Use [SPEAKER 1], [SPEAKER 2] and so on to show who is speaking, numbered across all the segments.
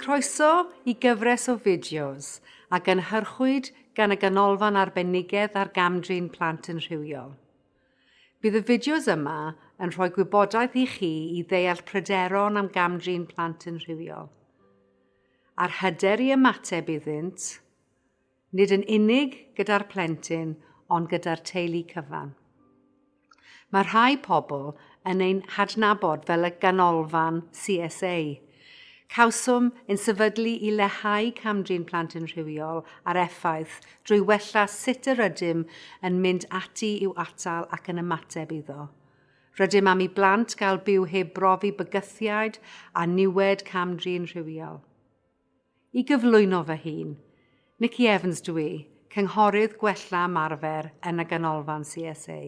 [SPEAKER 1] Croeso i gyfres o fideos a gynhyrchwyd gan y Ganolfan Arbenigedd ar Gam-drin Plant yn Rhywiol. Bydd y fideos yma yn rhoi gwybodaeth i chi i ddeall pryderon am gam-drin plant yn rhywiol, a'r hyder i ymateb iddynt, nid yn unig gyda'r plentyn ond gyda'r teulu cyfan. Mae rhai pobl yn ein hadnabod fel y ganolfan CSA. Cawsom yn sefydlu i lehau camdrin plant yn rhywiol a'r effaith drwy wella sut yr ydym yn mynd ati i'w atal ac yn ymateb iddo. Rydym am i blant gael byw heb brofi bygythiaid a niwed camdrin rhywiol. I gyflwyno fy hun, Nikki Evans dw i, Cynghorydd Gwella Ymarfer yn y Ganolfan CSA.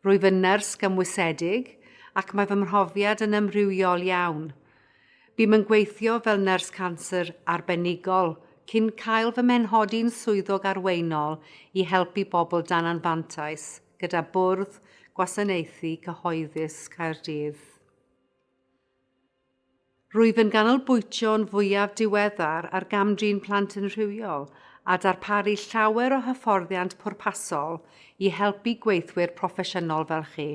[SPEAKER 1] Rwyf yn nyrs gymwysedig ac mae fy mhrofiad yn amrywiol iawn. Bûm yn gweithio fel nyrs canser arbenigol cyn cael fy mhenhodi'n swyddog arweinol i helpu bobl dan anfantais gyda Bwrdd Gwasanaethu Cyhoeddus Caerdydd. Rwyf yn ganolbwyntio'n fwyaf diweddar ar gam-drin plant yn rhywiol a darparu llawer o hyfforddiant pwrpasol i helpu gweithwyr proffesiynol fel chi.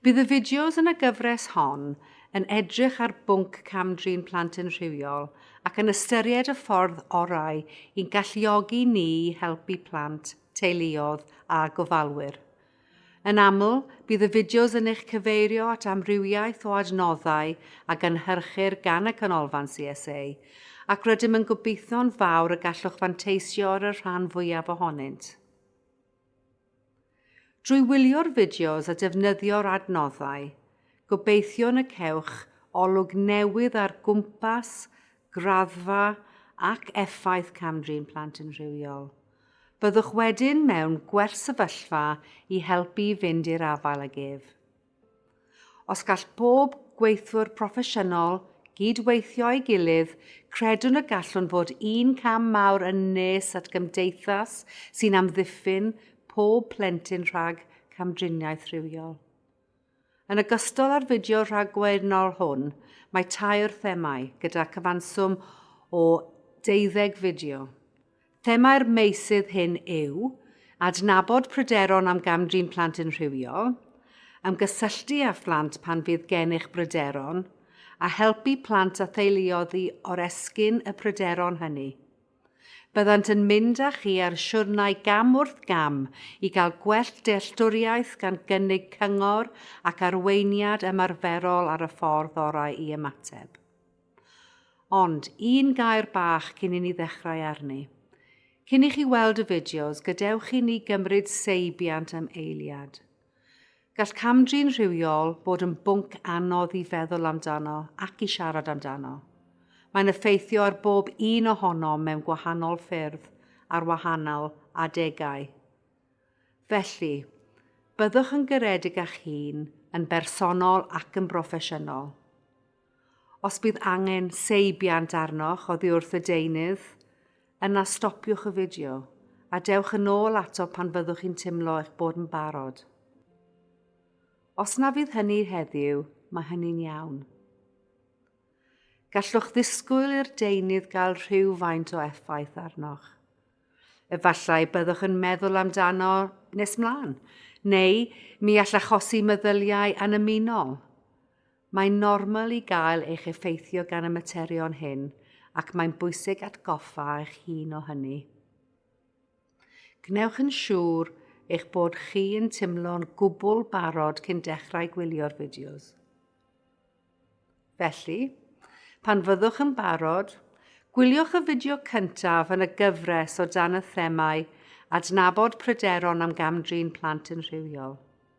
[SPEAKER 1] Bydd y fideos yn y gyfres hon yn edrych ar bwnc cam-drin plant yn rhywiol ac yn ystyried y ffordd orau i'n galluogi ni i helpu plant, teuluoedd a gofalwyr. Yn aml, bydd y fideos yn eich cyfeirio at amrywiaeth o adnoddau a gynhyrchir gan y Canolfan CSA, ac rydym yn gobeithio'n fawr y gallwch fanteisio ar y rhan fwyaf ohonynt. Drwy wylio'r fideos a defnyddio'r adnoddau, gobeithiwn y cewch olwg newydd ar gwmpas graddfa ac effaith cam-drin plant yn rhywiol. Byddwch wedyn mewn gwersefyllfa i helpu i fynd i'r afael ag ef. Os gall bob gweithwyr proffesiynol gyd-weithio ei gilydd, credwn y gallwn fod un cam mawr yn nes at gymdeithas sy'n amddiffyn pob plentyn rhag camdriniaeth rhywiol. Yn ogystal â'r fideo rhagwernol hwn, mae tair themâu, gyda cyfanswm o deuddeg fideo. Themâu'r meysydd hyn yw, adnabod pryderon am gam-drin plant yn rhywiol, ymgysylltu â phlant pan fydd gennych bryderon, a helpu plant a theuluoedd i oresgyn y pryderon hynny. Byddant yn mynd â chi ar siwrnai gam wrth gam i gael gwell dealltwriaeth gan gynnig cyngor ac arweiniad ymarferol ar y ffordd orau i ymateb. Ond, un gair bach cyn i ni ddechrau arni. Cyn i chi weld y fideos, gadewch i ni gymryd seibiant am eiliad. Gall cam-drin rhywiol fod yn bwnc anodd i feddwl amdano ac i siarad amdano. Mae'n effeithio ar bob un ohonom mewn gwahanol ffyrdd ar wahanol adegau. Felly, byddwch yn garedig â'ch hun, yn bersonol ac yn broffesiynol. Os bydd angen seibiant arnoch oddi wrth y deunydd, yna stopiwch y fideo a dewch yn ôl ato pan fyddwch chi'n teimlo eich bod yn barod. Os na fydd hynny heddiw, mae hynny'n iawn. Gallwch ddisgwyl i'r deunydd gael rhywfaint o effaith arnoch. Efallai byddwch yn meddwl amdano nes mlaen, neu mi all achosi meddyliau annymunol. Mae'n normal i gael eich effeithio gan y materion hyn ac mae'n bwysig atgoffa eich hun o hynny. Gwnewch yn siŵr eich bod chi yn timlo'n gwbl barod cyn dechrau gwylio'r fideos. Felly, pan fyddwch yn barod, Gwyliwch y fideo cyntaf yn y gyfres o dan y themâu Adnabod pryderon am gam-drin plant yn rhywiol.